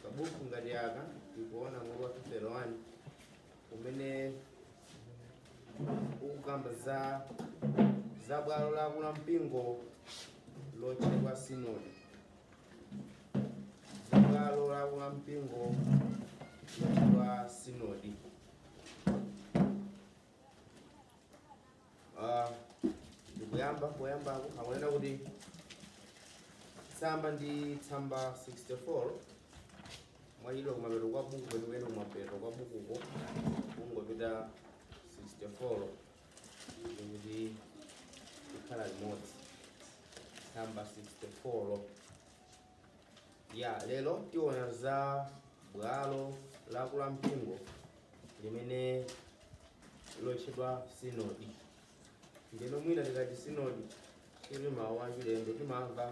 kabuku ngati aka tikuona mutu wa 31 umene ukukamba za za bwalo la akulu a mpingo lotchedwa sinodi za bwalo la akulu a mpingo lotchedwa sinodi Ah, ndikuyamba poyambako akunena kuti tsamba ndi tsamba 64 mwachidwa kumapeto kwa buku kwenikweni kumapeto kwa bukuko kungopita 64 ndikuti tikhale limodzi tsamba 64 ya lero tiona za bwalo la akulu a mpingo limene lotchedwa sinodi ndeno mwina tikati sinodi si mawu achilendo timamva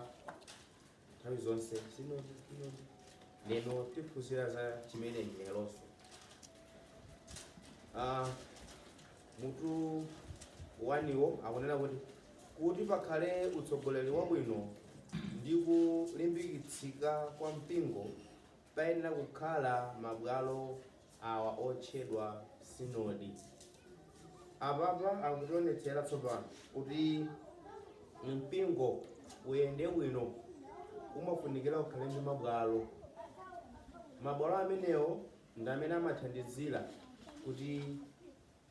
nthawi zonse sinodi sinodi lero tiphunzira za chimenechi leronso Ah, Mutu 1 wo akunena kuti kuti pakhale utsogoleri wabwino ndi kulimbikitsika kwa mpingo payenera kukhala mabwalo awa otchedwa sinodi. Apapa akutionetsera tsopano kuti mpingo uyende bwino umafunikira ukhale ndi mabwalo. Mabwalo amenewo ndi amene amathandizira kuti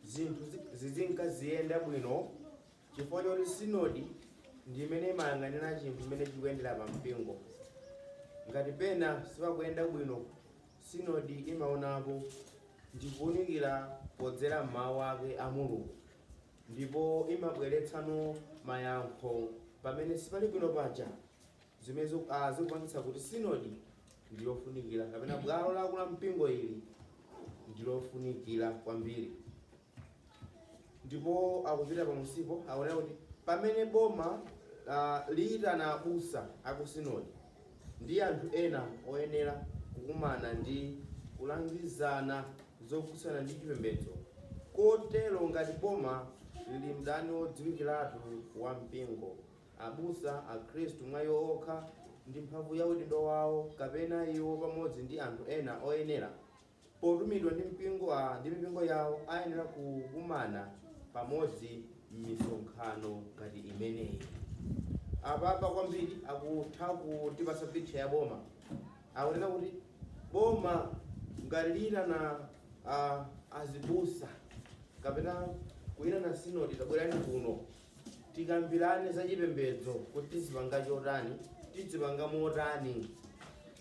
zinthu zizinka ziyenda bwino chifukwa choti sinodi ndi imene imayang'anira chinthu chimene chikuyendera pa mpingo ngati pena sipakuyenda bwino sinodi imaonapo ndikuunikira podzera m'mawu ake a mulungu ndipo imabweretsano mayankho pamene sipali bwino paja zimene zikupangitsa kuti sinodi ndi yofunikira kapena bwalo la akulu a mpingo ili ndi lofunikira kwambiri. Ndipo akupita pamusipo akunena kuti pamene boma ah, liyitana abusa aku sinodi ndi anthu ena oyenera kukumana ndi kulangizana zokhudzana ndi chipembedzo kotero ngati boma lili mdani wodziwikiratu wa mpingo Abusa a Khristu mwa iwo okha ndi mphamvu ya udindo wawo kapena iwo pamodzi ndi anthu ena oyenera potumidwa ndi mpingo a ndi mipingo yawo ayenera kukumana pamodzi m'misonkhano ngati imeneyi. Apapa kwambiri akutha kutipatsa picture ya boma. Akunena kuti boma ngati liyitana a azibusa kapena kuyitana sinodi tabwerani kuno. Tikambilane za chipembedzo kuti tizipanga chotani, tidzipanga motani.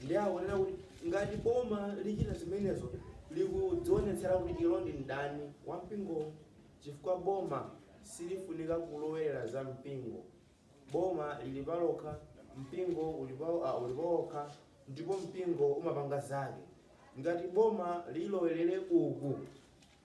Ndiye akunena kuti ngati boma lichita zimenezo likudzionetsera kuti ilo ndi mdani wa mpingo chifukwa boma silifunika kulowerera za mpingo. Boma lili palokha, mpingo uli pawokha ndipo mpingo umapanga zake. Ngati boma lilowelere uku.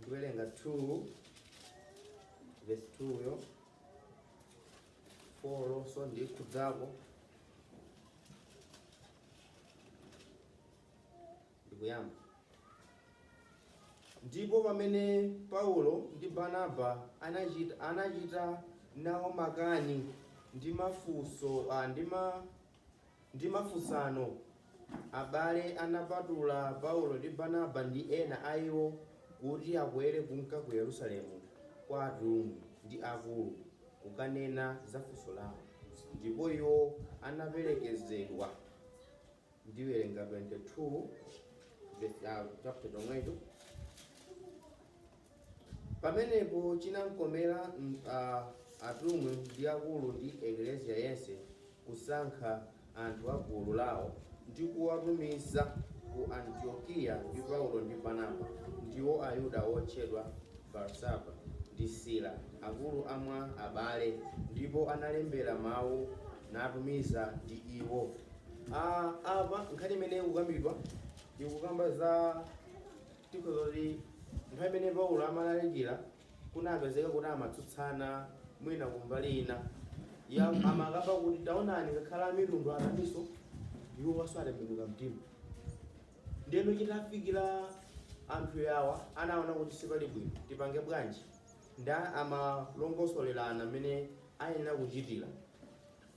ndiwerenga 2 verse 2 yo 4nso ndikhudzako ndikuyamba ndipo pamene paulo ndi barnaba anachita nawo makani ndi mafunso ah, ndi ma ndi mafunsano, abale anapatula Paulo ndi Barnaba ndi ena a iwo kuti akwere kunka ku Yerusalemu kwa atumwi ndi akulu, kukanena za funso lao. Ndipo iwo anaperekezedwa, ndiwerenga 22 ve- ah, chapter chomwecho. Pamenepo chinakomera atumwi ndi akulu ndi Eklesia yense kusankha anthu a gulu lao, ndi kuwatumiza ku Antiokeia ndi Paulo ndi Barnaba, ndiwo Ayuda otchedwa Barsaba, ndi Sila, akulu a mwa abale, ndipo analembera mau natumiza ndi iwo. a Apa nkhani imene ikukambidwa ikukamba za. Tikhoza kuti nthawi imene Paulo amalalikira kunapezeka kuti amatsutsana mwina kumbali ina ya amakamba kuti taonani ngakhale amitundu nawonso iwowanso atembenuka mtima ndeno chitafikira anthu yawa anaona kuti sipali bwino tipange bwanji nde amalongosolerana mmene ayenera kuchitira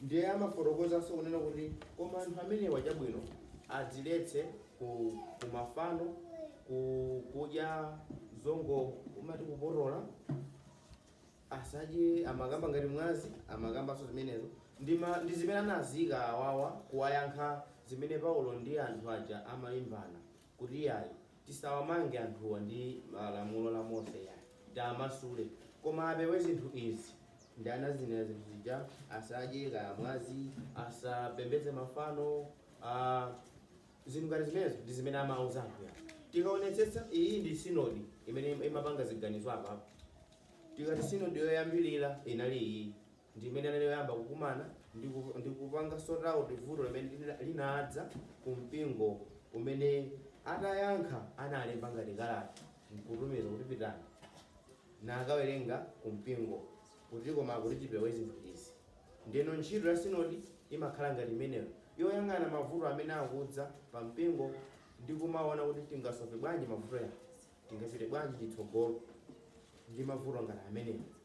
Ndiye amafotokozanso kunena kuti, Koma anthu amenewa chabwino adziletse ku, ku mafano, ku kudya zongo amati kupotola, asadye, amakamba ngati mwazi, amakambanso zimenezo, ndi, ma, ndi zimene anaziika awawa kuwayankha zimene Paulo ndi anthu aja amalimbana. kuti yayi tisawamange anthuwa ndi lamulo la Mose yayi tiamasule koma apewe zinthu izi ndi anazinena zinthu zija asadye kaya mwazi asapembedze mafano uh, zinthu ngati zimenezo ndi zimene amauza anthu yawa tikaonetsetsa iyi ndi sinodi imene imapanga ziganizo apapo tikati sinodi yoyambirira inali iyi ndi imene inali yoyamba kukumana ndi ku- ndi kupanga sort out vuto limene lina- linadza ku mpingo umene atayankha analemba ngati kalata nkutumiza kuti pitani mukawerenge ku mpingo kuti koma kuti tipewe zinthu izi ndeno ntchito ya sinodi imakhala ngati imeneyo yoyang'ana mavuto amene akudza pa mpingo ndi kumaona kuti tingasofe bwanji mavuto awa tingapite bwanji chitsogolo ndi mavuto ngati amenewo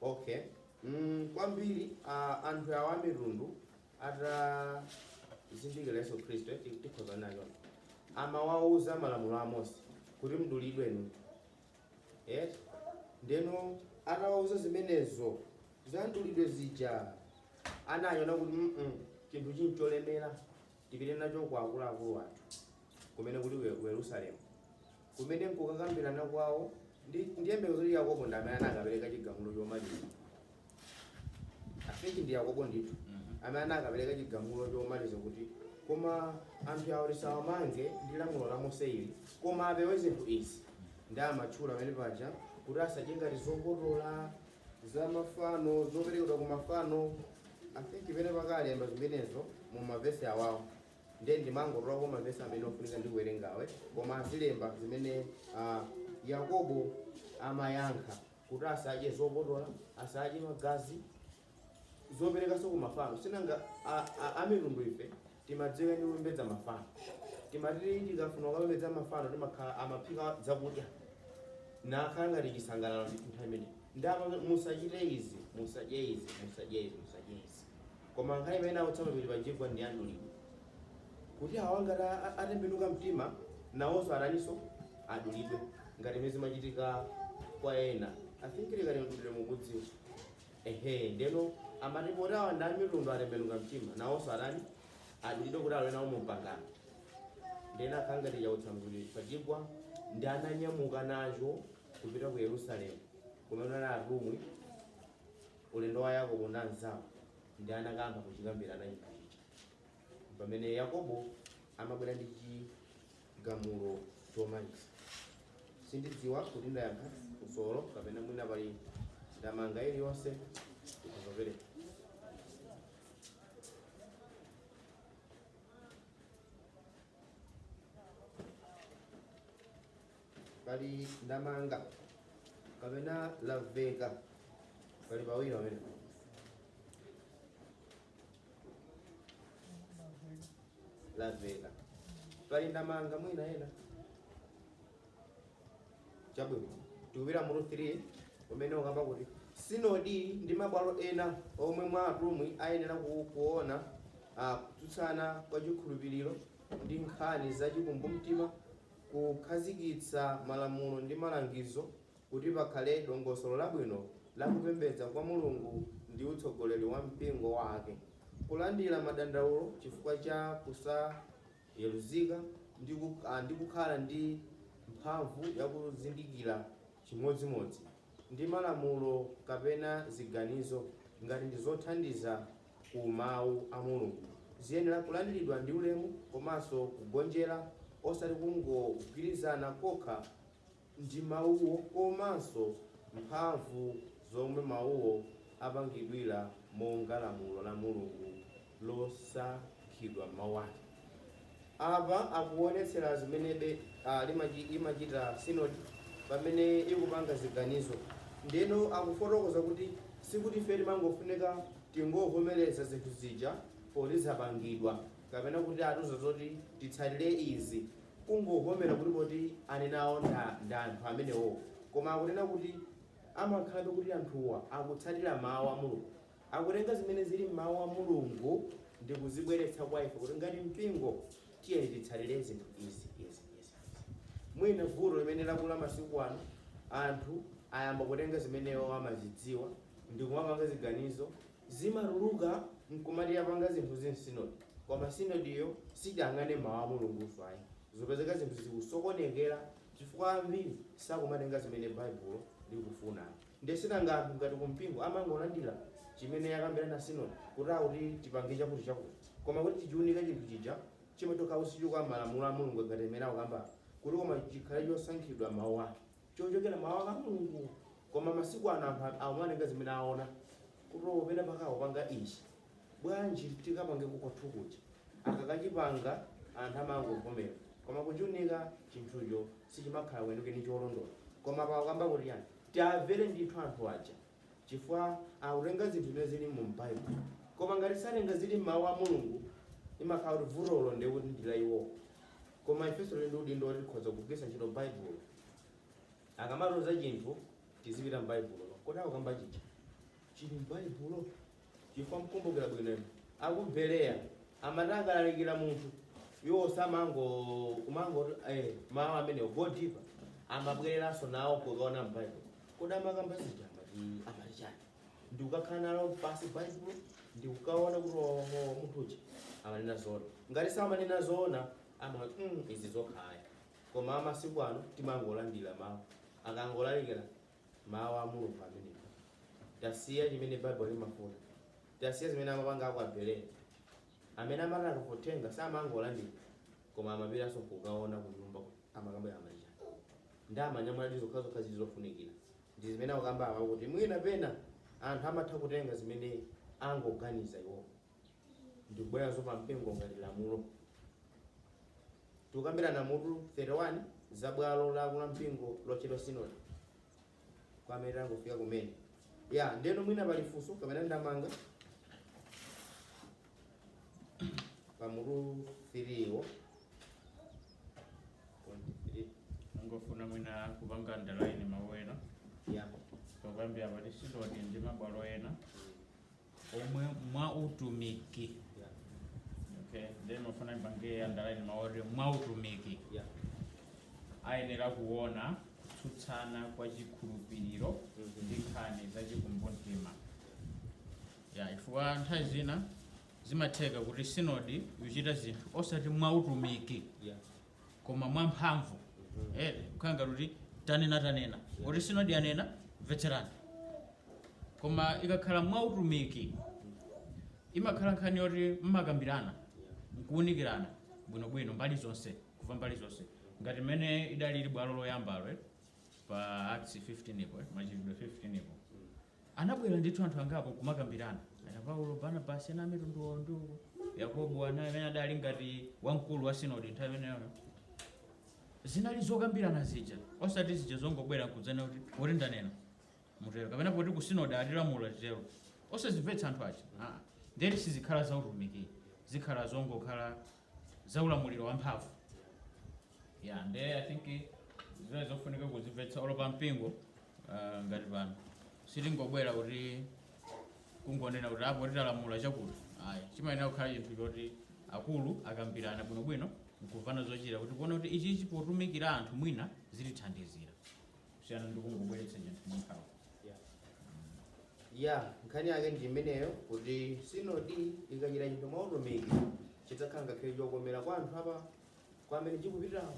Ok, mm, kwambiri uh, anthu awa amitundu atazindikira Yesu Khristu eh, ti- tikhoza nacho amawauza malamulo a Mose kuti mdulidwe inu eh? ndeno atawauza zimenezo za mdulidwe zija anayona kuti mm -mm, chinthu ncholemera Tipite nacho kwa akuluakulu athu, kumene kuli ku Yerusalemu, kumene m'kukakambirana kwawo ndiye ndiyembekeza kuti Yakobo ndi amene anakapereka chigamulo chomaliza. I think ndi Yakobo ndithu amene anakapereka chigamulo chomaliza kuti koma anthu awo tisawamange ndi lamulo la Mose ili, koma apewe zinthu izi ndiye amatchula pamene paja kuti asadye ngati zopotola za mafano zoperekedwa ku mafano i think pamene analemba zimenezo mu mavesi awawo ndiye ndinangotolako mavesi amene ofunika ndi kuwerengawe koma anazilemba zimene ah, yakobo amayankha kuti asadye zopotola asadye magazi zoperekanso ku mafano sinanga a- a- amitundu ife timadziwika ndi kupembedza mafano timati tikafuna kukapembedza mafano timakhala timaphika zakudya nkukhala ngati chisangalalo ndithu nthawi imeneyi nde apa musachite izi musadye izi musadye izi musadye izi koma nkhani imene akutsamirapo ili pa chibwana cha mdulidwe kuti awa ngati a- a- atembenuka mtima nawonso ataninso adulidwe ngati mmene zimachitika kwa ena i think nkhani ya mdulidwe mukudziwa Ehe, ndeno amati popeza awa ndi amitundu atembenuka mtima, nawonso atani? Adulidwe kuti alowe nawo mu pangano. Ndeno akhala ngati chautsanzuli pachigwa nde ananyamuka nacho kupita ku Yerusalemu kumene anali atumwi ulendo wa Yakobo ndi anzawo nde anakayamba kuchikambirana chinthu ichi. Pamene Yakobo amabwera ndi chi gamulo chomaliza. Sindidziwa kuti ndayankha funsolo kapena mwina pali ndemanga iliyonse mukhoza kupereka. Pali ndemanga kapena lamveka pali pawiri pamene laveka pali ndemanga mwina ena chabwino tikupita mutu 3 umene ukamba kuti sinodi ndi mabwalo ena omwe mwa atumwi ayenera ku- kuona ah, kutsutsana kwa chikhulupiriro ndi nkhani za chikumbumtima kukhazikitsa malamulo ndi malangizo Kuti pakhale dongosolo labwino la kupembedza kwa Mulungu ndi utsogoleri wa mpingo Wake, kulandira madandaulo chifukwa cha kusayeruzika ndi kukhala ndi mphamvu ya kuzindikira chimodzimodzi ndi malamulo kapena ziganizo ngati ndi zothandiza ku Mawu a Mulungu ziyenera kulandiridwa ndi ulemu komanso kugonjera osati kungogwirizana kokha ndi mawuwo komanso mphamvu zomwe mawuwo apangidwira monga lamulo la Mulungu losankhidwa m'Mau ake. Apa akuonetsera zimenebe imachita sinodi pamene ikupanga ziganizo. Ndeno akufotokoza kuti sikuti ife timangofunika tingovomereza zinthu zija poti zapangidwa kapena kuti atiuza zoti titsatire izi. kungovomera kuti poti anenawo nda nda anthu amenewo koma akunena kuti amakhalabe kuti anthuwa akutsatira mawu a Mulungu akutenga zimene zili m'mawu a Mulungu ndikuzibweretsa kwa ife kuti ngati mpingo tiyeni titsatire zinthu izi izi izi izi mwina vuto limene lakula masiku ano anthu ayamba kutenga zimene iwo amazidziwa ndikumapanga ziganizo zimatuluka nkumati yapanga zinthu izi nsinodi koma sinodiyo siidayang'ane mau a Mulungunso ayi, zopezeka zinthu zikusokonekera chifukwa ambiri sakumatenga zimene Baibulo likufuna ayi nde sinanga anthu ngati kumpingo amangolandira chimene yakambirana sinodi kuti a kuti tipange chakuti chakuti koma kuti tichiunika chinthu chija chimachoka ku malamulo a Mulungu ngati amene akukamba apa kuti koma chikhale chosankhidwa m'mau ake. chochokera m'mawu a mulungu koma masiku ano anthu a- amatenga zimene aona kuti o pena pake akupanga ichi bwanji tikapange kukwathu kuja akakachipanga anthu amangovomera koma kuchiunika chinthucho sichimakhala kwenikweni cholondola koma apa akamba kuti tiyeni tiwamvere ndithu anthu aja chifukwa akutenga zinthu zimene zili mu m'baibulo koma ngati satenga zili m'mawu a mulungu imakhala kuti vutolo ndiye kuti ndi la iwowo koma ifenso tili ndi udindo woti tikhoza kugwiritsa ntchito baibulo akamatiuza chinthu tizipita m'baibulo kodi akukamba chija chili m'baibulo chifukwa mkumbukira bwino inu aku bereya amati akalalikira munthu iwo samango eh, mawu amenewo go deeper amabwereranso nawo kukaona mbaibulo kodi amakamba zija amati amati chani ndikukakhala nalo pasi baibulo ndikukaona kuti oho munthu uja amanena zoona ngati samanena zoona amati mm, izi zokhaya koma amasiku ano timangolandira mawu akangolalikira mawu a mulungu amenewo tasiya chimene baibulo limafuna tasiya zimene amapanga aku bereya amene amati akatenga samangolandira koma amapitanso kukaona kunyumba amakamba amunthu aja ndi amanyamula ndi zokhazokha zili zofunikira ndi zimene akukamba apa kuti mwina pena anthu amatha kutenga zimene angoganiza iwowo ndikubweretsanso pa mpingo ngati lamulo. Tikukambirana mutu 31 za bwalo la akulu ampingo lotchedwa sinodi kwa amene tangofika kumene. Ya, ndeno mwina pali funso kapena ndemanga pa mutu 3 wo ndingofuna mwina kupanga andalaini mawu ena tikukambira pati sinodi ndi mabwalo ena omwe mwa utumiki Yeah. okay then mafuna mpange andalaini mawu oti mwa utumiki Yeah. ayenera kuona kutsutsana kwa chikhulupiriro Mhm. ndi nkhani za chikumbumtima ya chifukwa nthawi zina zimatheka kuti sinodi ikuchita zinthu osati mwa utumiki Yeah. koma mwamphamvu eh, kukhala ngati kuti tanena tanena kuti sinodi yanena mvetserani koma ikakhala mwa utumiki imakhala nkhani yoti mmakambirana nkuunikirana bwinobwino mbali zonse kuva mbali zonse ngati mmene idalili bwalo loyambalo eh, pa acts 15 yo eh, machitidwe 15 yo Anabwela ndithu anthu angapo nkumakambilana, Ana Paulo, Barnabasi, ana amitundu awo ndi uko, Yakobo, ana amene adali ngati wamkulu wa sinodi nthawi imeneyoyo. Zinali zokambilana zija, osati zija zongobwela nkudzanena kuti poti ndanena mutelo kapena poti ku sinodi atilamula titelo. Osazimvetsa anthu aja, aa, nde kuti sizikhala za utumiki, zikhala zongokhala za ulamuliro wamphamvu ya nde i think zimenezo zofunika kuzimvetsa olo pa mpingo ah, ngati pano sitingobwera kuti kungonena kuti apo titalamula chakuti ayi chimayenera kukhala chinthu choti akulu akambirana bwinobwino nkuvana zochita kuti kuona kuti ichichi potumikira anthu mwina zitithandizira kusiyana ndi kungobweretsa chinthu mwamphamvu ya nkhani yake ndi imeneyo kuti sinodi ikachita chinthu mwa utumiki chidzakhala ngakhale chokomera kwa anthu apa kwa amene chikupitirawo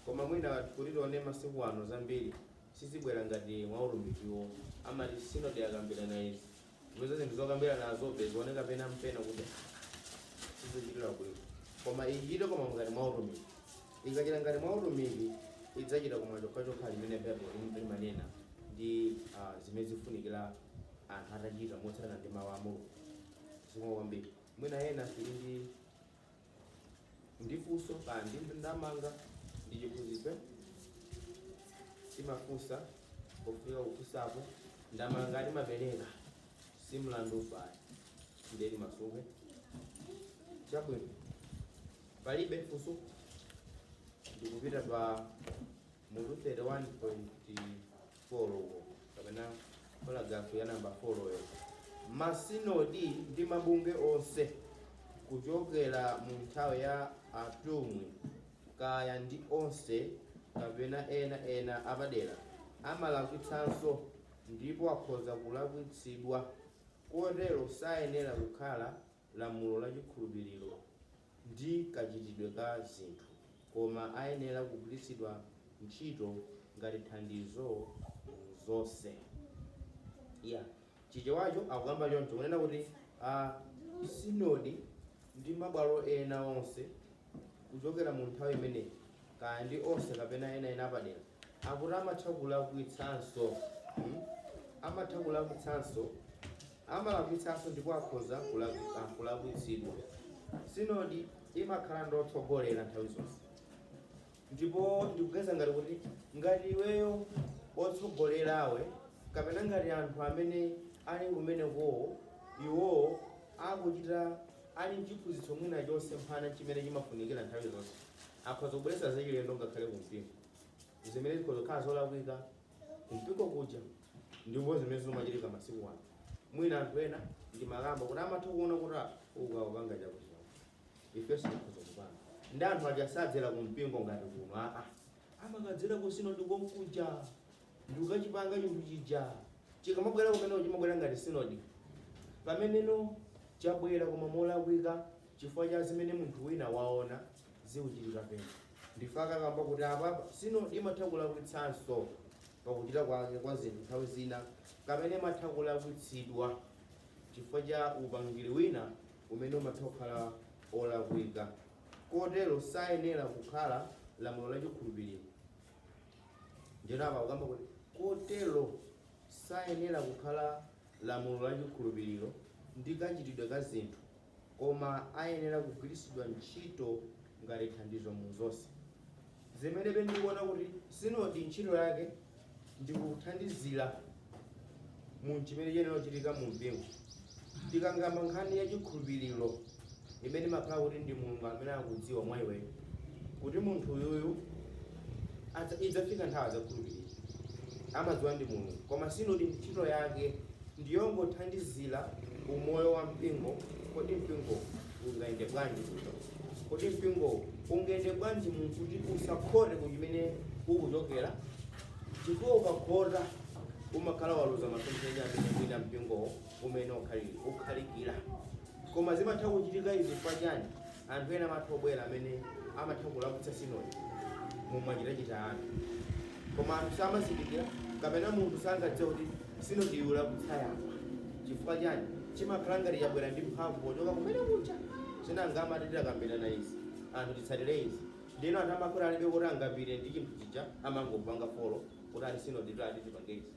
koma mwina kuti tione masiku ano zambiri sizibwera ngati mwa utumikiwo amati sinodi akambirana izi Tipeza zinthu zokambiranazobe zioneka pena mpena kuti sizichitira bwino koma ichite koma ngati mwa utumiki ikachita ngati mwa utumiki idzachita koma chokhachokha chimene baibulo lim- limanena ndi ah, zimene zifunikira anthu atachita motsatirana ndi mawu a mulungu zikomo kwambiri mwina ena tili ndi ndi funso kaya ndi ndemanga ndi chiphunzitso timafunsa pofika kufunsapo ndemanga timapereka si mlandu pali ndiye limasunge chabwino palibe funso ndikupita pa mutu 31. folo uko kapena paragrafu ya namba foloyo masinodi ndi mabungwe onse kuchokera mu nthawi ya atumwi kaya ndi onse kapena enaena apadera amalakwitsanso ndipo akhoza kulakwitsidwa kotero sayenera kukhala lamulo la chikhulupiriro ndi kachitidwe ka zinthu, koma ayenera kugwiritsidwa ntchito ngati thandizo mu zonse. Ya Chichewacho akukamba choncho, kunena kuti masinodi ndi mabwalo ena onse kuchokera mu nthawi imeneyi, kaya ndi onse kapena enaena apadera, akuti amatha kulakwitsanso, hmm? amatha kulakwitsanso, amalakwitsanso ndipo akhoza kulakwitsa- ah, kulakwitsidwa. Sinodi imakhala ndi otsogolera nthawi zonse. Ndipo ndikuganiza ngati kuti ngati iweyo wotsogolerawe kapena ngati anthu amene ali kumenekowo iwowo akuchita ali mchiphunzitso mwina chosemphana chimene chimafunikira nthawi zonse akhoza kubweretsa zachilendo ngakhale ku mpingo zimene zikhoza kukhala zolakwika ku mpingo kuja ndipo zimene zikumachitika masiku ano mwina anthu ena ndimakamba kuti amatha kuona kuti ah, uku akupanga chakuti ifenso tikhoza kupanga ndi anthu aja sadzera ku mpingo ngati kuno aa amakadzera ku sinodi konkuja ndikukachipanga chinthu chija chikamabwera kumeneko chimabwera ngati sinodi pameneno chabwera koma molakwika chifukwa cha zimene munthu wina waona zikuchitika pena n'chifukwa akukamba kuti apapa sinodi imatha kulakwitsanso pakuchita kwake kwa zinthu nthawi zina kapena imatha kulakwitsidwa chifukwa cha upangiri wina umene umatha kukhala wolakwika kotero sayenera kukhala lamulo la chikhulupiriro ndiyeno apa akukamba kuti kotero sayenera kukhala lamulo la chikhulupiriro ndi kachitidwe ka zinthu koma ayenera kugwiritsidwa ntchito ngati thandizo mu zonse Zimenebe ndikuona kuti sinodi ntchito yake ndi kuthandizira mu chimene chiyenera kuchitika mu mpingo. Tikakamba nkhani ya chikhulupiriro imene imakhala kuti ndi Mulungu amene akudziwa mwa iweyo kuti munthu uyuyu adza- idzafika nthawi adzakhulupirira amadziwa ndi mulungu koma sinodi ntchito yake ndiyongothandizira umoyo wa mpingo kodi mpingo ungayende bwanji kodi mpingowo ungayende bwanji munthu kuti usakhote ku chimene ukuchokera chifukwa ukakhota umakhala waluza masomphenya amene mwina mpingowo umene ukhali- ukhalikira koma zimatha kuchitika izi chifukwa chani anthu ena amatha kubwera amene amatha kulakwitsa sinodi mumachitachita anthu koma anthu samazindikira kapena munthu sangadziwe kuti sinodi yalakwitsa apa chifukwa chani chimakhala ngati chabwera ndi mphamvu pochoka kumene kuja nanga amati tidakambirana izi anthu titsatire izi ndino anthu amakhala alibe kuti angapite ndi chinthu chija amangopanga folo kuti ali sinodi yati tipange izi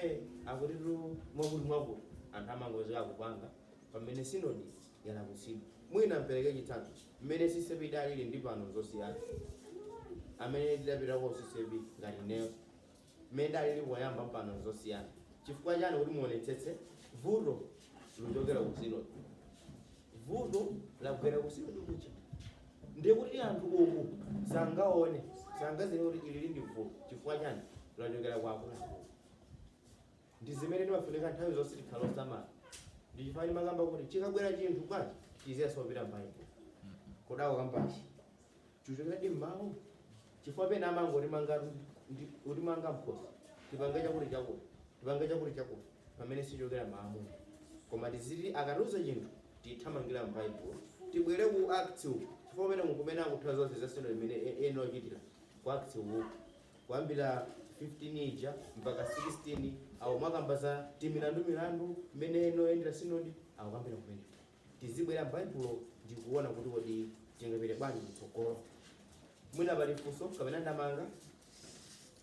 eh akuti tu mwakuti mwakuti anthu amangozeka kupanga pamene sinodi yalakwitsidwa mwina ndipereke chitsanzo mmene CCAP idalili ndi pano nzosiyana amene tidapita ku CCAP ngati ineyo mmene idalili poyamba ndi pano nzosiyana chifukwa chani kuti muonetsetse vuto likuchokera ku sinodi vuto labwera ku sinodi kuja ndiye kuti anthu uku sangaone sangaziwe kuti ili ndi vuto chifukwa chani lachokera kwa akuluakulu ndi zimene timafunika nthawi zonse tikhala osamala ndi chifukwa ndimakamba kuti chikabwera chinthu kwa tchetchi tiziyamba tapita mbaibulo kudako kambachi Chichokeredi m'mawu chifukwa pena amangotimangatu ndi kutimanga mkhosi tipange chakuti chakuti tipange chakuti chakuti pamene sichokera m'mawu koma tiziti akatiuza chinthu tithamangila m'baibulo tibwere ku acts uku chifukwa kumene kumene akutha zonse za sinodi imene e- ena ochitira ku acts uku kuyambira 15 ija mpaka 16 awo makamba za timilandu milandu mmene imayendera sinodi akukambira kumeneko Tizibwera m'Baibulo ndi kuona kuti kodi tingapite bwanji kutsogolo. Mwina pali funso kapena ndemanga,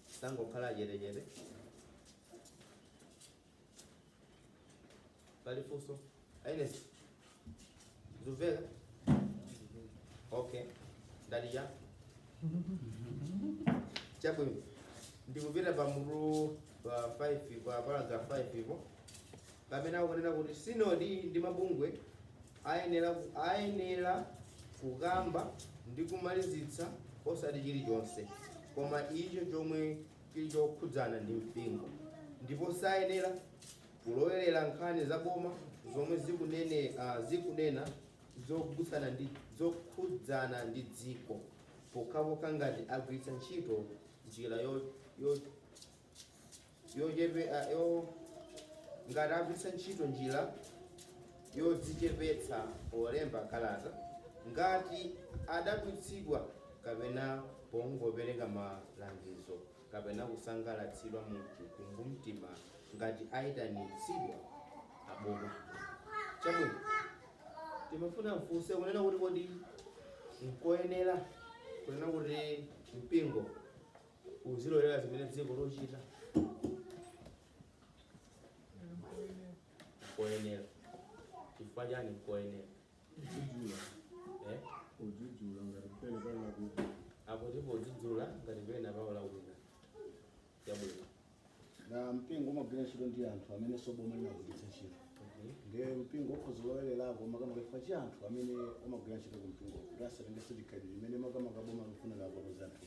tisangokhala achetechete. Pali funso? Aines, zikumveka? Okay, ndali cha chabwino ndikupita pa mutu pa 5 pa paragraph 5 ipo pamene akunena kuti sinodi ndi mabungwe ayenera ayenera kukamba ndi kumalizitsa osati chirichonse koma icho chomwe chili chokhudzana ndi mpingo ndipo sayenera kulowerera nkhani za boma zomwe zikunena uh, zikunena zokhudzana ndi zokhudzana ndi dziko pokhapokha ngati agwiritsa ntchito njira yo, yo, yochepe- ah, yo ngati agwiritsa ntchito njira yodzichepetsa polemba kalata ngati adabwitsidwa kapena pongopereka malangizo kapena kusangalatsidwa mu chikumbumtima ngati ayitanitsidwa aboma chabwino timafuna mfunse kunena kuti kodi nkoyenera kunena kuti mpingo uzilolera zimene dziko likuchita nkoyenera chifukwa chani nkoyenera Kudzudzula. eh? Kudzudzula ngati pena pake akuti podzudzula ngati pena paola wina chabwino nawo mpingo umagwira ntchito ndi anthu amene nso boma limagwiritsa ntchito Mhm. ndiye mpingo ukhoza kulowererako makamaka chifukwa cha anthu amene umagwira ntchito ku mpingo kuti asatengese chikhalidwe chimene makamaka boma likufuna kupotoza anthu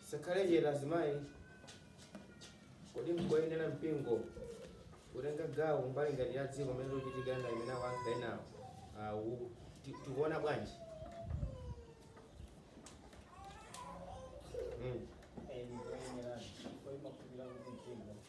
Tisakhale chete azimayi. Kodi nkoyenera mpingo kutenga gawo mbali ngati ya dziko mmene zikuchitika ngati mmene akuyankha enawo awu ti- tikuona bwanji? Mm.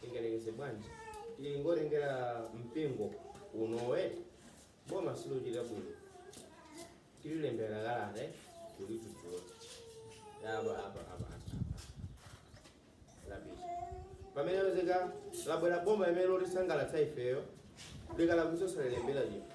tingalengeze bwanji tingoyerekeza mpingo unone boma silochita bwino tililembere kalata kulidzudzula apa apa apa apa lapita pamene apezeka labwera boma limene lotisangalatsa ifeyo likalakwitsa osalilembera chinthu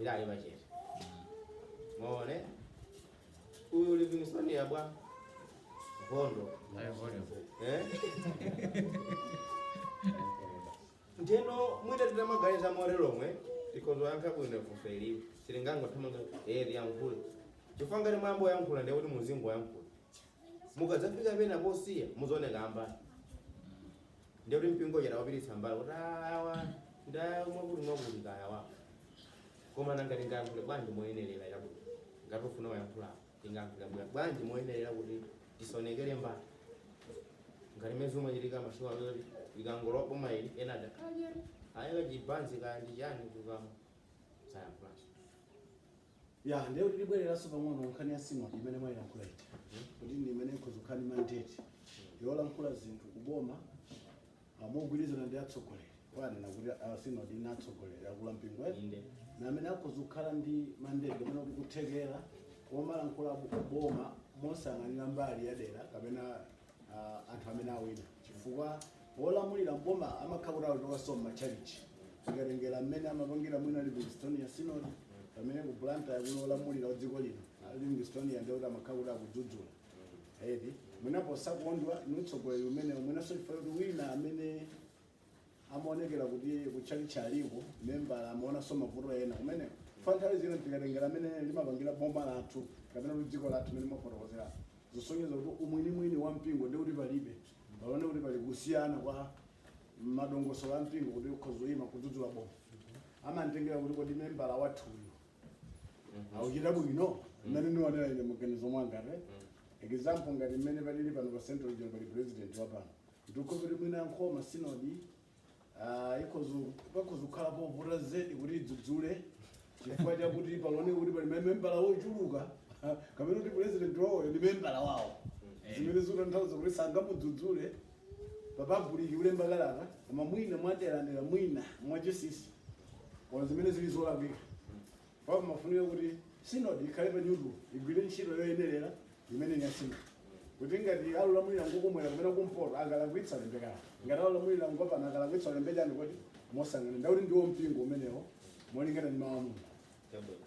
idali pachete maone uyu Livingstonia abwankhondo Eh? ndiyeno mwina titamaganiza momwe tikhoza kuyankha bwino funso ili sitingangothamanga tiyankhule chifukwa ngati mwayamba kuyankhula ndiye kuti muzingoyankhula mukadzafika pena posiya muzooneka ambali ndiye kuti mpingo uja tawupititsa mbali kuti "Ah, awa ndi a mwakuti mwakuti kaya wa koma nanga tingayankhule bwanji moyenerera chifukwa chakuti ngati ukufuna kuyankhula tingayankhule bwa- bwanji moyenerera kuti tisaonekere mbali ngati mmene zimachitikira masiku ano zoti likangolowa boma ili ena adakadyera kaya chibanzi kaya ndi chani kukamwa sayankhulaso ya ndiye kuti tibwereranso pang'ono nkhani ya sinodi imene mwayilankhula iti kuti ndi imene ikhoza kukhala ndi mandate yolankhula zinthu kuboma ah, mogwirizana ndi atsogoleri mwanena kuti ah, sinodi ili ndi atsogoleri akulu a mpingo eti Inde. Ndi amene akhoza kukhala ndi mandate kapena kuti kuthekera womalankhula kuboma mosayang'anira mbali ya dera kapena ah, anthu amene awina chifukwa Wolamulira m'boma amakhala kuti akuchokanso m'matchalitchi. Tikatengera mmene amapangira mwina Livingstonia Synod, pamene ku Blantyre kuli olamulira dziko lino, a Livingstonia ndiye kuti amakhala kuti akudzudzula. Eti, mwina posakondwa ndi utsogoleri umenewo, mwinanso chifukwa kuti wina amene amaonekera kuti kutchalitchi aliko, membala amaonanso mavuto ena kumeneko. Chifukwa nthawi zina tikatengera mmene limapangira boma lathu kapena kuti dziko lathu mmene mwafotokozerapo, zosonyeza kuti umwinimwini wa mpingo ndiye kuti palibe. Paoneka kuti pali kusiyana kwa madongosolo a mpingo kuti ukhoza kuyima kudzudzula boma amangotengera kuti kodi membala wathuyo akuchita bwino mmene ndionera ine maganizo mwanga for example ngati mmene palili pano pa central region pali president wa pano ndiye kuti mwina nkhoma sinodi Ah, ikhoza pakhoza kukhala povuta zedi kuti idzudzule chifukwa chakuti paoneka kuti pali mamembala ochuluka ah, kapena kuti president wawoyo ndi membala wawo zimene zikutanthauza kuti sangamudzudzule papabuliki kulemba kalata koma mwina mwaderadera mwina mwachinsinsi koma zimene zili zolakwika Koma pamafunika kuti sinodi ikhale pa neutral igwire ntchito yoyenerera imene yosonyeza kuti ngati olamulira ngakummwera kapena kumpoto akalakwitsa alembe kalata ngati olamulira ngapano akalakwitsa alembe chani kuti mosayang'ana zakuti ndi wa mpingo umenewo molingana ndi mawu a Mulungu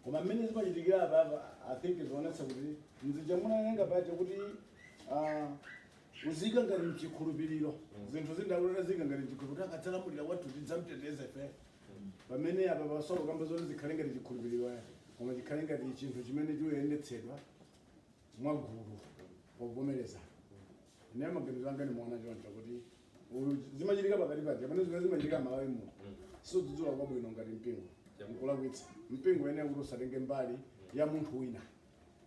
koma mmene zimachitikira apapa i think zionetsa kuti nzija munanena paja kuti ah, uzika ngati mchikhulupiriro zinthu zindakulera zika ngati mchikhulupiriro akadzalamulira wathu tidzamteteza ife pamene apa pasamakambe zoti zikhale ngati chikhulupiriro ya koma chikhale ngati chinthu chimene chikuyendetsedwa mwagulu povomereza ine maganizo anga ndimaona choncho kuti uyu zimachitika pakati pake pamene zimene zimachitika malawi muno sikudzudzula kwabwino ngati mpingo nkulakwitsa mpingo uyenera kuti usatenge mbali ya munthu wina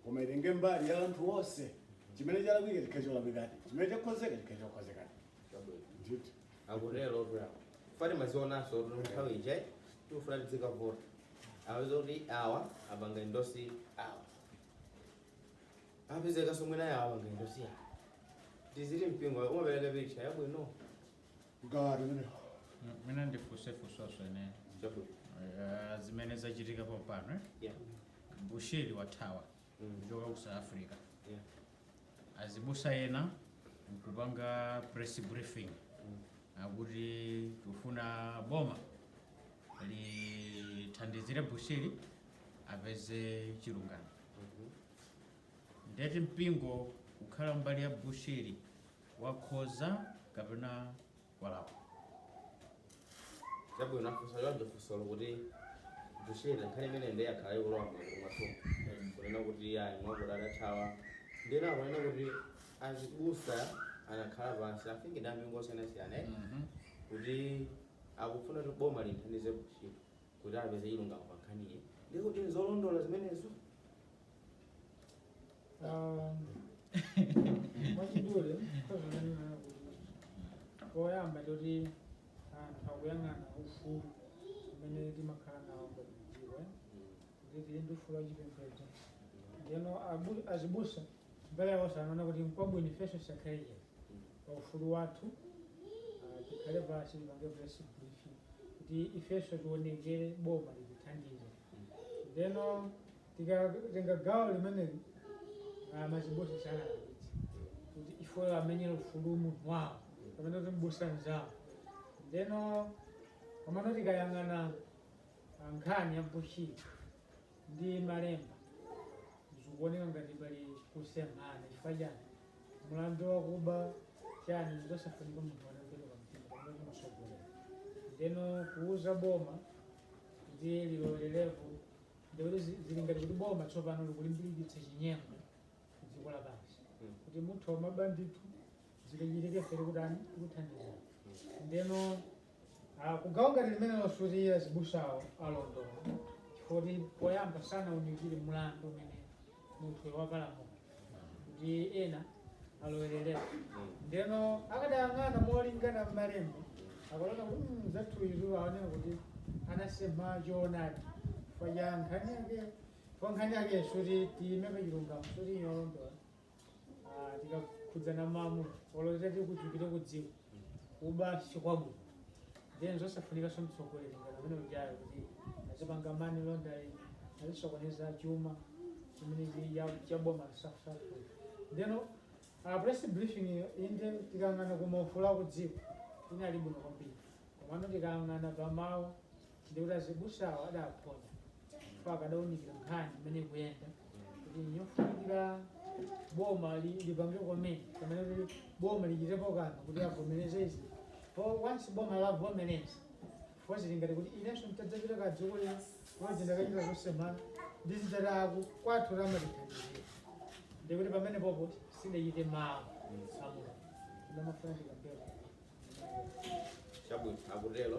koma itenge mbali ya anthu onse chimene chalakwika chikhale cholakwikadi chimene chakhozeka chikhale chokhozekadi ndithu akutero bra fati timazionanso kuti nthawi ija tikufuna tizikavota upeza kuti awa apanga endorse awa apezekanso mwina awo apanga endorse awa tiziti mpingo umapereka picha yabwino Kugawa tumene. Ine ndifunse funso swene Eh, zimene zachitika pompano eh? Yeah. bushiri wathawa kuchoka ku south africa Yeah. azibusa ena nkupanga press briefing akuti tufuna boma lithandizire bushiri apeze chilungamo ndiye kuti mpingo kukhala mbali ya bushiri wakhoza kapena walakwa. Chabwino, afunsa choncho funsolo kuti Bushiri nkhani imene ndiye yakhala ikulowa m'magulu mwathumu kunena kuti ayi mwakuti adathawa ndiye ena akunena kuti azibusa anakhala pansi amfumu ndi ampingo osiyanasiyana eh, Mhm. kuti akufuna kuti boma limthandize Bushiri kuti apeze chilungamo pa nkhaniyi ndi kuti nzolondola zimenezo mwachidule nkoza kunena kuti poyamba poti anthu akuyang'ana ufulu umene timakhala nawo tikudziwa kuti tili ndi ufulu wachipembedzo ndiyeno abu- azibusa mbali yawo anaona kuti nkwabwino ifeso tisakhale pa ufulu wathu ah, tikhale pasi tipange press briefing kuti ifeso tionekere boma litithandize ndeno tikatenga gawo limeneli ah, azibusa sanalakwitse kuti iwowo amenyere ufulu munthu wawo kapena kuti mbusa mzawo ndeno pamano tikayang'ana ah, nkhani ya bushiri ndi malemba zikuoneka ngati pali kusemphana chifukwa chani mulandu wakuba chani zosafunika munthu anapereka mtima kapena kuti mtsogoleri ndeno kuuza boma kuti lilolerepo Ndiye kuti zi- zili ngati kuti boma tsopano likulimbikitsa chinyengo ku dziko lapansi Mm. kuti muthu amaba ndithu zikachitika ife tikutani tikuthandiza ndeno ah, kugawo ngati limenelo sikuti azibusawo alondola chifukwa kuti poyamba sanaunikire mlandu umene munthu wapalamula ndiyeno alowererera ndeno akadayang'ana molingana mmalembo akadaona kuti "Mm, mzathu uyu akuoneka kuti anasempha choonadi paja nkhani yake kwa nkhani yake sikuti tiimike chilungamo sikuti yolondola tikakhudzana mawu olotera tikuchokera kudziko kuba sikwabwino then zosafunikanso mtsogoleri ngati amene ujayo kuti azipanga money laundering azisokoneza chuma chimene chi- ya- cha boma safusafu ndeno ah press briefing iyo inde tikayang'ana kumaufulu aku dziko inali bwino kwambiri komano tikayang'ana pamawu ndi kuti azibusawo adaphonya chifukwa akadaunikira nkhani imene ikuyenda kuti nyofunikira boma li- lipange komene pamene kuti boma lichitepo kanthu kuti avomereze izi po once boma lavomereza chifukwa zili ngati kuti inenso nditadzapita ku dziko lino kuti ndakachita zosemphana ndi zitataku kwathu limatithandizira ndikuti pamenepo sadachite mawu a mulungu ndimafuna ndikambeko chabwino akutero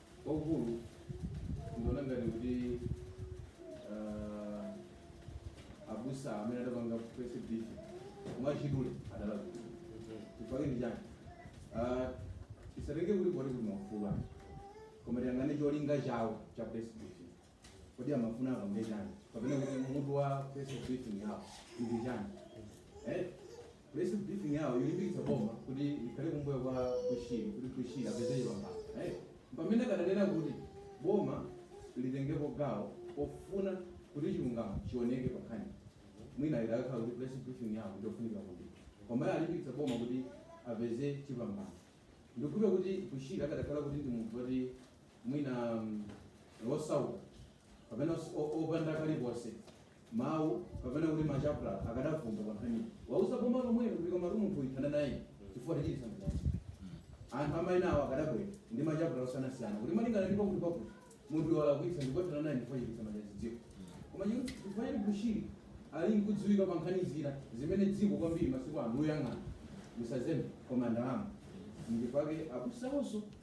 Waukulu, ndikuona ngati kuti uh, abusa amene adapanga press briefing mwachidule adalakwitsa chifukwa ndi chani uh, tisatenge kuti poti kuti mwafulwa koma tiyang'ane cholinga chawo cha press briefing kodi amafuna akambe chani kapena kuti mutu wa press briefing yawo ndi chani eh press briefing yawo yolimbikitsa boma kuti likhale kumbuyo kwa bushiri kuti bushiri apeze chipambano eh pamene akadanena kuti boma litengepo gawo ofuna kuti chilungamo chioneke pankhani mwina idakakhala kuti press briefing yawo ndofunika kuti komayo alimbikitse boma kuti apeze chipambano ndiponso kuti bushiri akadakhala kuti ndi munthu woti mwina osauka kapena os- o- opanda kalikonse mawu kapena kuti makalata akadavumba pa nkhaniyi kuuza boma lomwelo kuti koma munthu uyu thana naye chifukwa atichititsa manyazi anthu amaina awo akadabwera ndi makalata osiyanasiyana kuti malingana ndipo kuti pakuti munthu walakwitsa ndipo thana naye chifukwa wachititsa manyazi dziko koma chikuti chifukwa choti bushiri ali nkudziwika pa nkhani zina zimene dziko kwambiri masiku ano kuyang'ana musazembe koma ndalama nchake abusawonso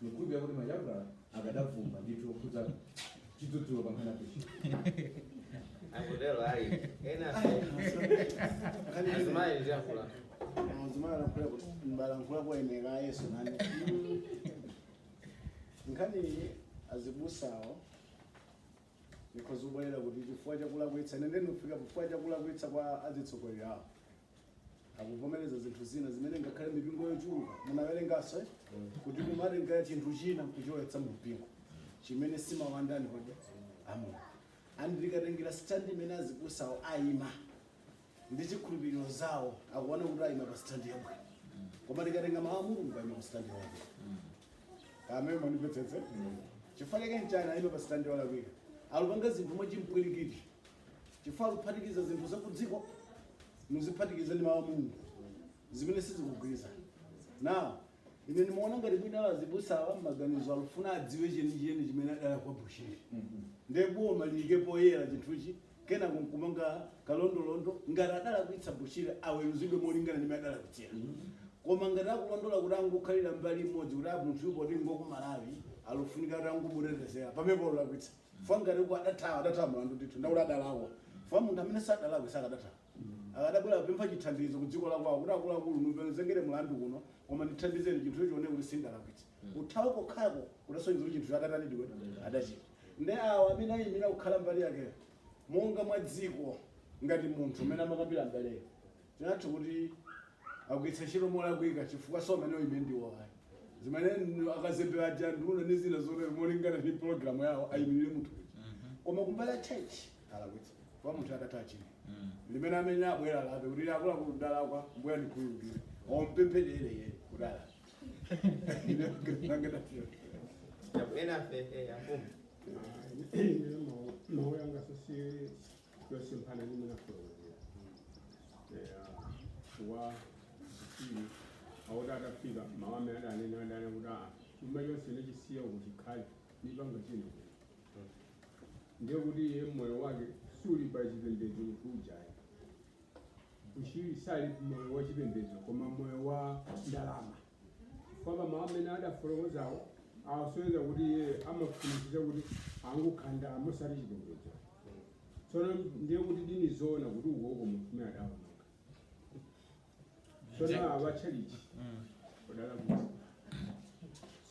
Ndikukhulupirira kuti makalata akadavumba ndithu okhudza chidzudzulo pankhani ya Bushiri. Akutero ayi. Ena azimayi ndiyankhule. Muzimana nakukhulira kuti mbalankhula kuwayenereza a Yesu nane. Nkhani ili azibusawo ndikhoza kubwerera kuti chifukwa chakulakwitsa ine ndinofika chifukwa chakulakwitsa kwa azitsogoleri awo akuvomereza zinthu zina zimene ngakhale mipingo yochuluka munawerenganso kuti kumatenga chinthu china kuchilowetsa mu mpingo chimene si mawu a ndani kodi a mulungu ndikatengera standi imene azibusawo ayima ndi chikhulupiriro chawo akuona kuti ayima pa standi yabwino koma ndikatenga mawu a mulungu ayima pa standi yabwino kamene mundimvetsetse chifukwa chake nchani ayima pa standi yolakwika akupanga zinthu mwachipwirikiti chifukwa kuphatikiza zinthu zakudziko muziphatikiza ndi mawu a mulungu zimene sizikugwirizana nawo ine ndimaona ngati mwina azibusa awa maganizo alufuna adziwe chenicheni chimene adalakwa bushiri nde boma liyike poyera chinthuchi kena kumanga kalondolondo ngati adalakwitsa bushiri aweruzidwe molingana ndi mmene adalakwitsira koma ngati akungolondola kuti angokhalira mbali imodzi kuti munthu poti ngwa ku malawi alufunika kuti angomutetezera pamenepo alakwitsa chifukwa ngati uko adathawa adathawa mulandu ndithu ndekuti adalakwa chifukwa munthu amene sadalakwe sakadathawa akadabwera kupempha chithandizo ku dziko lakwawo kuti akuluakulu mundizengere mulandu kuno koma ndithandizeni chinthu chioneke kuti sindalakwitsa kuthawa kokhako kudasonyeza kuti chinthu chidatani ndiye adachita ndi awo amene ayimira kukhala mbali yakeyo monga mwa dziko ngati munthu amene amakambira mbaleyo Tinganene kuti agwiritsa ntchito molakwika chifukwa si amene oima ndiwo ayi zimene n- akazembe aja nduna ndi zina zotero molingana ndi pologalamu yawo ayimirire munthu uja koma kumbali ya church alakwitsa kwa munthu akati achire limene amene abwere alape kuti akuluakulu ndalakwa mbuye ndikhululukireni ompempherere iyeyo kuti alape Ena fe, eh, afumu. mawu yanga sisi chosemphana ndi mwina kulonjera wa zikiri awo kuti atafika mawu amene adanena adanena kuti a chuma chonse ndachisiya uko chikhale ndipanga china ndiye kuti iye moyo wake suli pa chipembedzo mkuluyo bushiri sali moyo wa chipembedzo koma moyo wa ndalama chifukwa pa mawu amene adafotokozawo asonyeza kuti iye amafunitsitsa kuti angokonda ndalama osati chipembedzo tsono ndiye kuti ndi zoona kuti ukoko munthu amene adaononga tsono awa a tchalichi odala kuti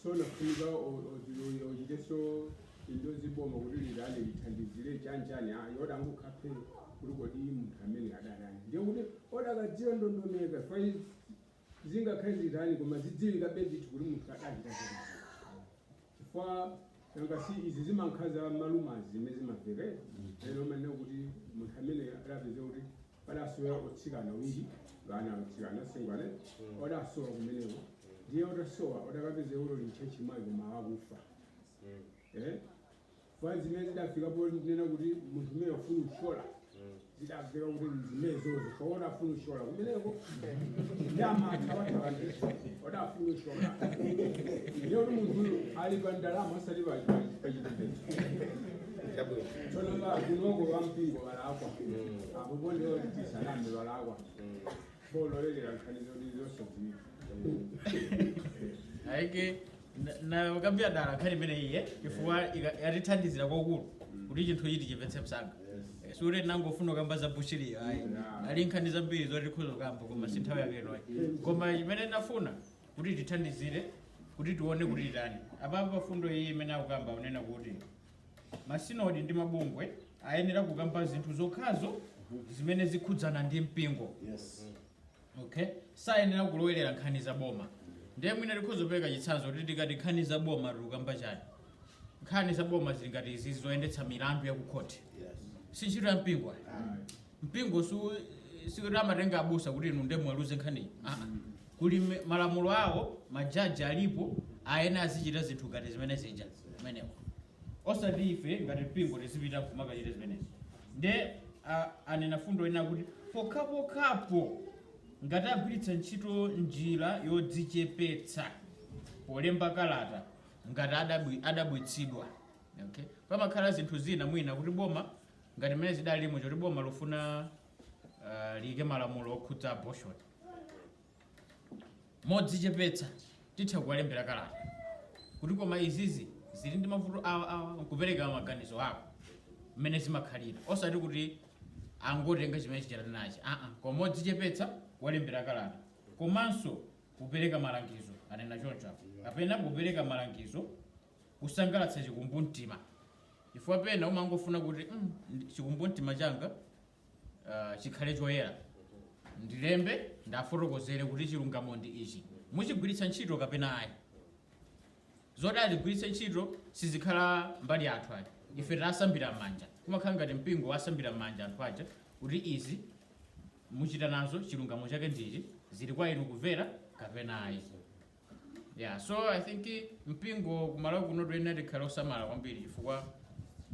so nafunika ochiteso into ziboma kuti lidale lithandizire chanjani yoda angukhape kuti kodi munthu amene adalani ndiye kuti odakadziwa ndondomeka Zingakhale zitani, koma zidziwikabe ndithu kuti munthu adachita zoipa. Chifukwa nanga si izi zimakhala za malumazi zimene zimamveka eti? Ena amanena kuti munthu ameneyo adapezeka kuti padasowa otsikana awiri, ana otsikana, asungwana eti, odasowa kumeneko. Ndiye otasowa, odakapezeka kuti ali m'tchalitchi mwake koma okufa. Eh? Chifukwa zimene zidafika ponena kuti munthu amene ofuna uthyola zidamveka kuti nzimenezozo chifukwa odafuna uthyola kumeneko nde amathawathawa ndi odafuna uthyola ndiye kuti munthuyu ali pa ndalama osati pa- pa- pa chipembedzo Chabwino. tsono akunoko ampingo alakwa apo pokha tisaname alakwa Polowerera nkhani zoti zosadziwika. ayi kenako nayikambira dala nkhani imeneyi chifukwa ika- yatithandizira kwakulu kuti chinthu ichi tichimvetse msanga Eh, sikuti tinangofuna kukamba za bushiriyo ayi Yeah. ali nkhani zambiri zoti tikhoza kukamba koma si nthawi yake inoyi koma imene nafuna kuti tithandizire kuti tione kuti titani apapa pafundo iyi imene akukamba kunena kuti Masinodi ndi mabungwe ayenera kukamba zinthu zokhazo zimene zikhudzana ndi mpingo. Yes. Okay? Sayenera kulowerera nkhani za boma. Ndiye mwina tikhoza kupereka chitsanzo kuti tikati nkhani za boma tikukamba chani. Nkhani za boma zili ngati izi zoyendetsa milandu ya ku khoti. Yes. Si ntchito ya mpingo. ayi. mpingo su sikuti amatenga abusa kuti inu ndiye muweruze nkhaniyi aa kuli me- malamulo awo majaji alipo ayenera azichita zinthu ngati zimene zija kumeneko osati ife ngati mpingo tizipita kumakachita zimenezi nde a- anena fundo ina kuti pokhapokhapo ngati agwiritsa ntchito njira yodzichepetsa polemba kalata ngati adabwi- adabwitsidwa okay? pamakhala zinthu zina mwina kuti boma ngati mmene zidalilimo choti boma lufuna uh, liyike malamulo okhudza abortion modzichepetsa titha kuwalembera kalata kuti koma izizi zili ndi mavuto awa awa nkupereka maganizo ako mmene zimakhalira osati kuti angotenga chimene achita nachi aa koma modzichepetsa kuwalembera kalata komanso kupereka malangizo anena choncho apo kapena kupereka malangizo kusangalatsa chikumbumtima, chifukwa pena umangofuna kuti mm, ndi- chikumbumtima changa ah, chikhale choyera ndilembe ndiwafotokozere kuti chilungamo ndi ichi muchigwiritsa ntchito kapena ayi zoti azigwiritse ntchito sizikhala mbali yathu ayi ife tasambira m'manja kumakhala ngati mpingo wasambira m'manja anthu aja kuti izi muchita nazo chilungamo chake ndichi zili kwa inu kumvera kapena ayi yeah so i think mpingo kumalawi kuno tiyenera tikhale osamala kwambiri chifukwa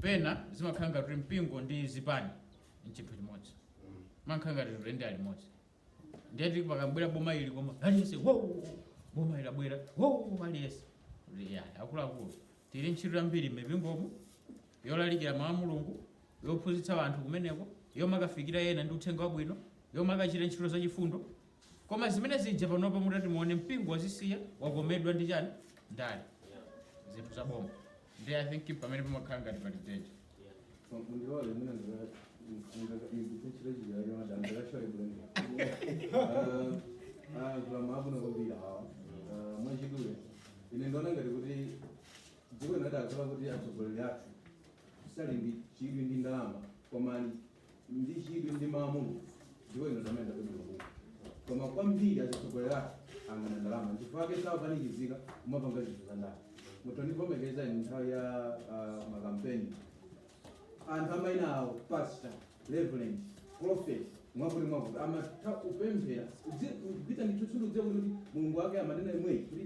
pena zimakhala ngati kuti mpingo ndi zipani nchinthu chimodzi kumakhala ngati zinthu ndi alimodzi ndeti pakabwera boma ili koma aliyense wo boma ili abwera wo aliyense ya akuluakulu tili ndi ntchito yambiri m'mipingomu yolalikira mawu a mulungu yophunzitsa anthu kumeneko yomakafikira ena ndi uthenga wabwino yomakachita ntchito zachifundo Koma zimene zija panopa mutati muone mpingo wazisiya wakomedwa ndi chani ndale zinthu za boma nde I think pamene pamakhala ngati pali danger Mundilole mwina ndikuchirechira yoda ndakashore bwene. Kulamu abuna kwambira awa. Mwachidule. Ine ndiona ngati kuti dziko linadakhala kuti atsogoleri athu sali ndi chidwi ndi ndalama koma ali ndi chidwi ndi mawu a Mulungu dziko lino zimene ndapeza mabuku koma kwambiri azitsogoleri athu ayang'ana ndalama chifukwa chake sakupanikizika kumapanga zinthu za ndale mundivomereza ine nthawi ya ah, makampeni anthu amaina awo pastor reverend prophet mwakuti mwakuti amatha kupemphera kupita ndithutsuluze kuti mulungu wake amanena imweyi kuti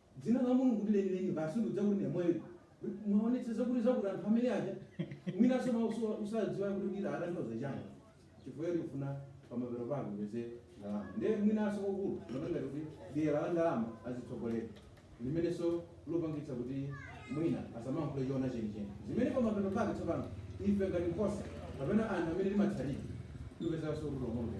Dzina la Mulungu ndi lenileni basi ndudza kuti ne mwayi mwaonetsa zakuti anthu amene aja mwinanso ma osa- osadziwa kuti dzina likutanthauza chani chifukwa choti ukufuna pamapeto pako upeze ndalama nde mwinanso kwakukulu ndikuona ngati kuti dyera la ndalama azitsogoleri limenenso lopangitsa kuti mwina asamankhule choona chenicheni zimene pamapeto pake tsopano ife ngati nkhosa kapena anthu amene timatsatira tipezanso kuti lomwe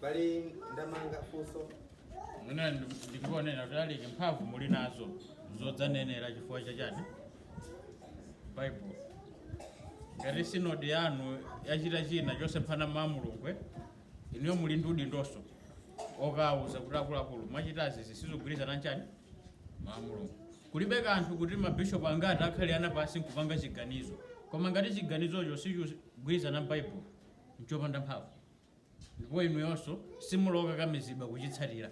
M'bale Ndamanga, funso. Mwina ndi- ndikuonera kuti alaiki mphamvu muli nazo zodzanenera chifukwa chachani baibulo ngati sinodi yanu yachita china chosemphana mawu a mulungu inuyo muli ndi udindonso okawuza kuti akuluakulu mwachitazi sizigwirizana nchani mawu a mulungu zilibe kanthu kuti mabishopu angati akhale pansi nkupanga chiganizo koma ngati chiganizocho sichigwirizana ndi baibulo nchopanda mphamvu ndipo inuyonso simuli okakamizidwa kuchitsatira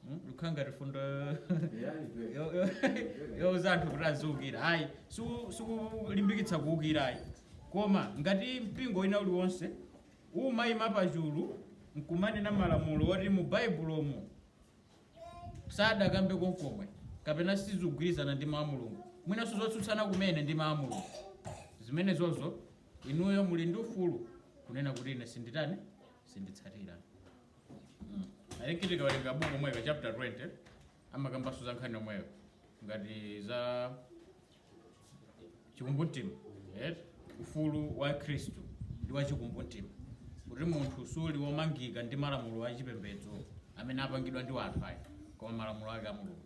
Hmm? Zikukhala ngati fundo yo- yo- youza anthu kuti aziukira ayi siku- sitikulimbikitsa kuukira ayi koma ngati mpingo wina uliwonse umayima pachulu nkumanena malamulo oti mu baibulomo sadakambe konkomwe kapena sizigwirizana ndi mawu a mulungu mwinanso zotsutsana kumene ndi mawu a mulungu zimenezozo Inuyo muli ndi ufulu kunena kuti ine sinditani sinditsatira. Mm. I think tikawerenga buku lomwelo chapter 20 amakambanso za nkhani yomweyo ngati za chikumbumtima yes? ufulu wa khristu ndi wa chikumbumtima kuti munthu suli womangika ndi malamulo a chipembedzo amene apangidwa ndi anthu ayi koma malamulo ake a mulungu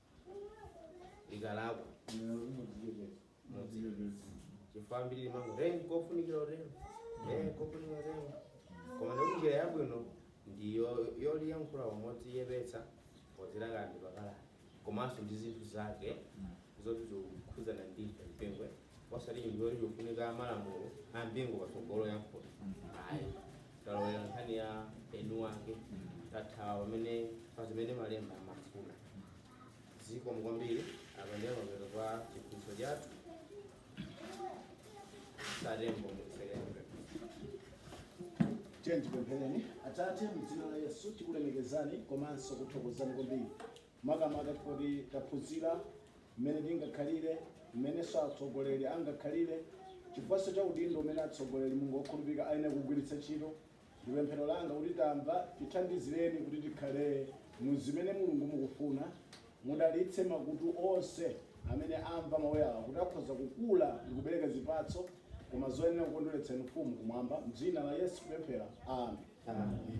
likalakwa chifukwa ambiri timango eya, kofunikira kutero eya, kofunikira kutero koma ndi njira yabwino ndi yo- yoliyankhula modzichepetsa paja likalakwa komanso ndi zinthu zake zoti zikukhudzana ndi m'busa osati chinthu choti chikufunika malamulo a mpingo patsogolo yankhula ayi talowera nkhani ya eni wake tathawa amene pa zimene malemba amafuna zikomo kwambiri apa ndiye mapeto a chiphunzitso chathu satembo mukuferenga tiyeni tipemphere atate mdzina la yesu tikulemekezani komanso kuthokozani kwambiri makamaka kuti taphunzira mmene tingakhalire, mmenenso atsogoleri angakhalire, chifukwanso cha udindo umene atsogoleri Mulungu okhulupirika ayenera kugwiritsa ntchito. Ndi pemphero langa kuti tamva, tithandizireni kuti tikhale mu zimene Mulungu mukufuna. Mudalitse makutu onse amene amva mawu awa kuti akhoza kukula ndi kubereka zipatso koma zoyenera kukondweretsa Inu Mfumu kumwamba. M'dzina la Yesu kupemphera, Amen.